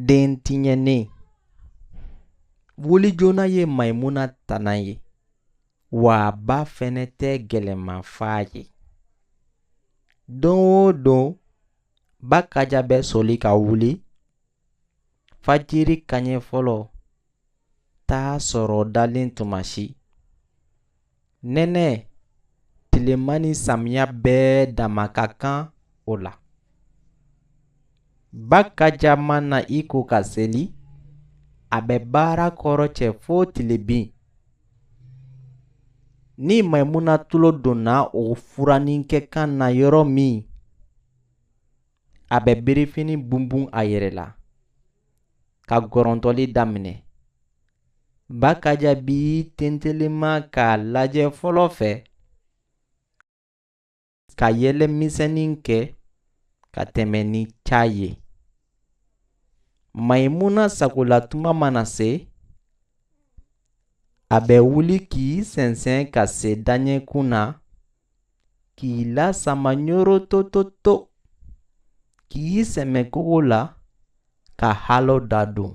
den tiɲɛnen wuli joona ye maimuna tana ye wa a ba fɛnɛ tɛ gɛlɛman f'a ye don o don ba kaja bɛ soli ka wuli fajiri kaɲɛ fɔlɔ t'a sɔrɔ dalen tuma si nɛnɛ tilema ni samiya bɛɛ dama ka kan o la ba kaja mana i ko ka seli a bɛ baara kɔrɔcɛ fo tilebin ni maimuna tulo donna o furanikɛ kan na yɔrɔ min a bɛ birifini bunbun a yɛrɛ la ka gɔrɔntɔli daminɛ ba kaja b'i tentelema k'a lajɛ fɔlɔ fɛ ka yɛlɛmisɛnnin kɛ ka tɛmɛ ni ca ye mayimuna sagola tuma mana se a bɛ wuli k'i sɛnsɛn ka se daɲɛkun na k'i lasama ɲorotototo k'i sɛmɛ kogo la ka halo dadon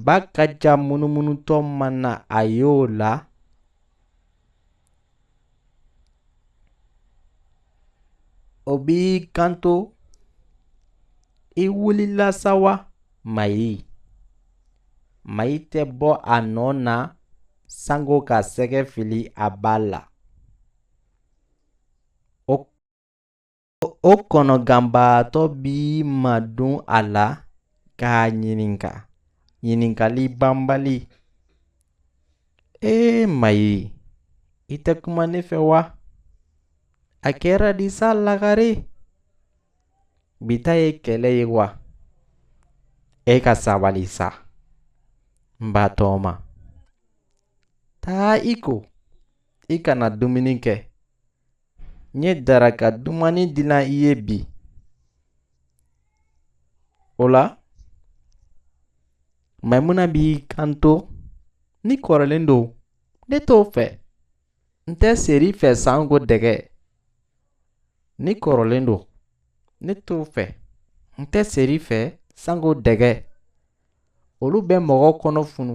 ba kaja munumunutɔ mana a y'o la o b'i kanto i wulila sa wa mayi mayi tɛ bɔ a nɔ na sango ka sɛgɛ fili a ba la o kɔnɔganbaatɔ b'i madon a la k'a ɲininka ɲininkali banbali ee mayi i tɛ kuma ne fɛ wa a kɛra di sa lagare bi ta ye kɛlɛ ye wa e ka sabali sa n ba tɔɔma Taa i ko, i ka na dumuni kɛ. N ye daraka dumannin dilan i ye bi. O la, Maimuna b'i kanto, ni kɔrɔlen don, ne t'o fɛ. N tɛ seri fɛ sanko dɛgɛ. Ni kɔrɔlen don, ne t'o fɛ. N tɛ seri fɛ sanko dɛgɛ. olu bɛ mɔgɔ kɔnɔ funu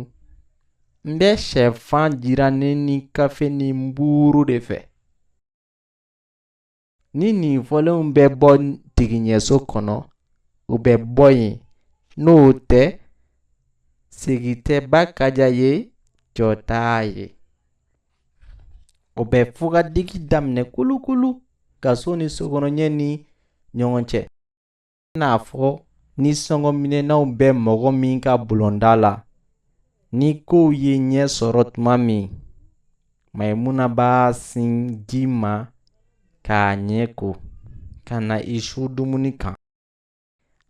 n bɛ sɛfan jirannen ni kafe ni buuru de fɛ ni nin fɔlenw bɛ bɔ tigiɲɛso kɔnɔ u bɛ bɔ yen n'o tɛ sigi tɛ ba kaja ye jɔ t'a ye o bɛ fugadigi daminɛ kulukulu gaso ni sokɔnɔɲɛ ni ɲɔgɔn cɛ n'a fɔ ni sɔngɔminɛnaw bɛ mɔgɔ min ka bulonda la ni kow ye ɲɛ sɔrɔ tuma min maimuna b'a sin ji ma k'a ɲɛ ko ka na i su dumuni kan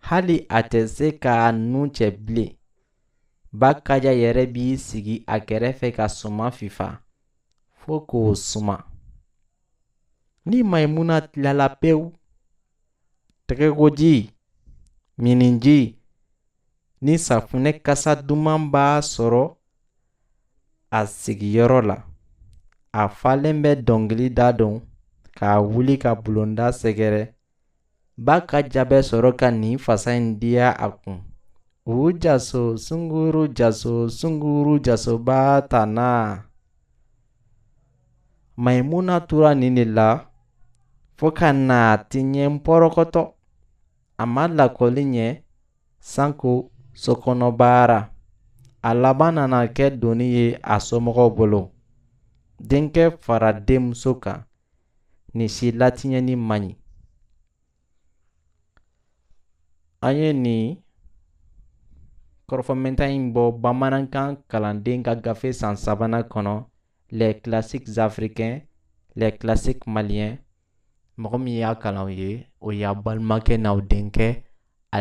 hali a tɛ se k'a nun cɛ bilen ba kaja yɛrɛ b'i sigi a kɛrɛfɛ ka suma fifa fo k'o suma ni maimuna tilala pewu tɛgɛkoji miniji ni safunɛ kasa duman b'a sɔrɔ a sigiyɔrɔ la a falen bɛ dɔnkili da dɔn ka wuli ka bulonda sɛgɛrɛ ba kaja bɛ sɔrɔ ka nin fasa in diya a kun u jaso sunguru jaso sunguru jasoba tanna maimuna tora nin de la fo ka na tiɲɛ pɔrɔkɔtɔ a ma lakɔli ɲɛ sanko sokɔnɔbaara a laban nana kɛ doni ye a somɔgɔw bolo denkɛ fara denmuso kan nin si latiɲɛni man ɲi an ye nin kɔrɔfɔmɛnta in bɔ bamanankan kalanden ka gafe san sabanan kɔnɔ les classiques africains les classiques maliens mɔgɔ min y'a kalan aw ye o y'aw balimakɛ n'aw denkɛ